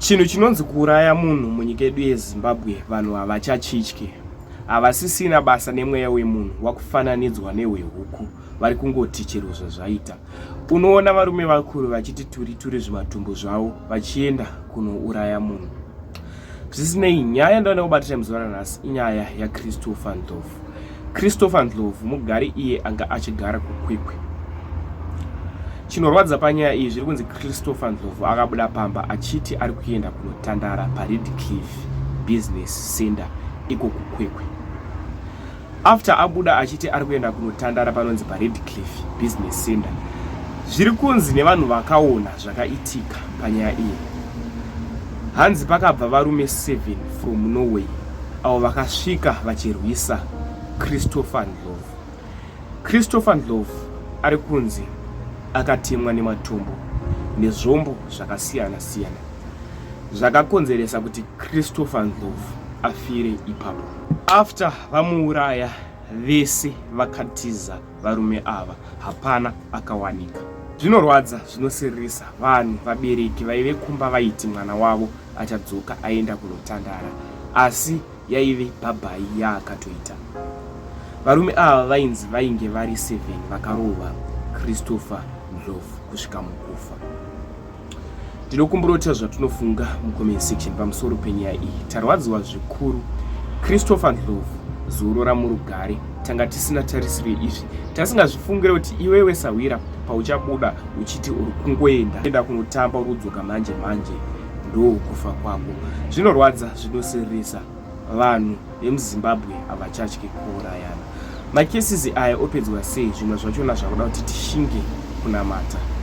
Chinhu chinonzi kuuraya munhu munyika yedu yeZimbabwe vanhu havachachitye. Havasisina basa nemweya wemunhu wakufananidzwa nehwehuku vari kungoti chero zvazvaita. Unoona varume vakuru vachiti turi turi zvimatumbu zvavo vachienda kunouraya munhu. Zvisinei, nyaya yandaona kubatira muzuva ranhasi inyaya yaChristopher Ndlovu. Christopher Ndlovu mugari iye anga achigara kuKwekwe. Chinorwadza panyaya iyi zviri kunzi Christopher Ndlovu akabuda pamba achiti ari kuenda kunotandara paRedcliff Business Center iko kuKwekwe. After abuda achiti ari kuenda kunotandara panonzi paRedcliff Business Center, zviri kunzi nevanhu vakaona zvakaitika panyaya iyi, hanzi pakabva varume 7 from Norway avo vakasvika vachirwisa Christopher Ndlovu. Christopher Ndlovu ari kunzi akatemwa nematombo nezvombo zvakasiyana siyana zvakakonzeresa kuti Christopher Ndlovu afire ipapo. After vamuuraya vese vakatiza varume ava, hapana akawanika. Zvinorwadza, zvinosiririsa vanhu vabereki vaive kumba vaiti mwana wavo achadzoka aenda kunotandara asi yaive bhabhai yaakatoita varume ava vainzi vainge vari 7 vakarova christopher ndlovu kusvika mukufa ndinokumburota zvatinofunga mucomment section pamusoro penyaya iyi tarwadziwa zvikuru christopher ndlovu zorora murugare tanga tisina tarisiro izvi tasingazvifungire kuti iwewe sahwira pauchabuda uchiti uri kungoenda enda kunotamba uri kudzoka manje manje ndokufa kwako zvinorwadza zvinosirisa vanhu vemuzimbabwe havachatye kuurayana makesisi aya opedzwa sei zvimwe zvachona zvakuda kuti tishinge kunamata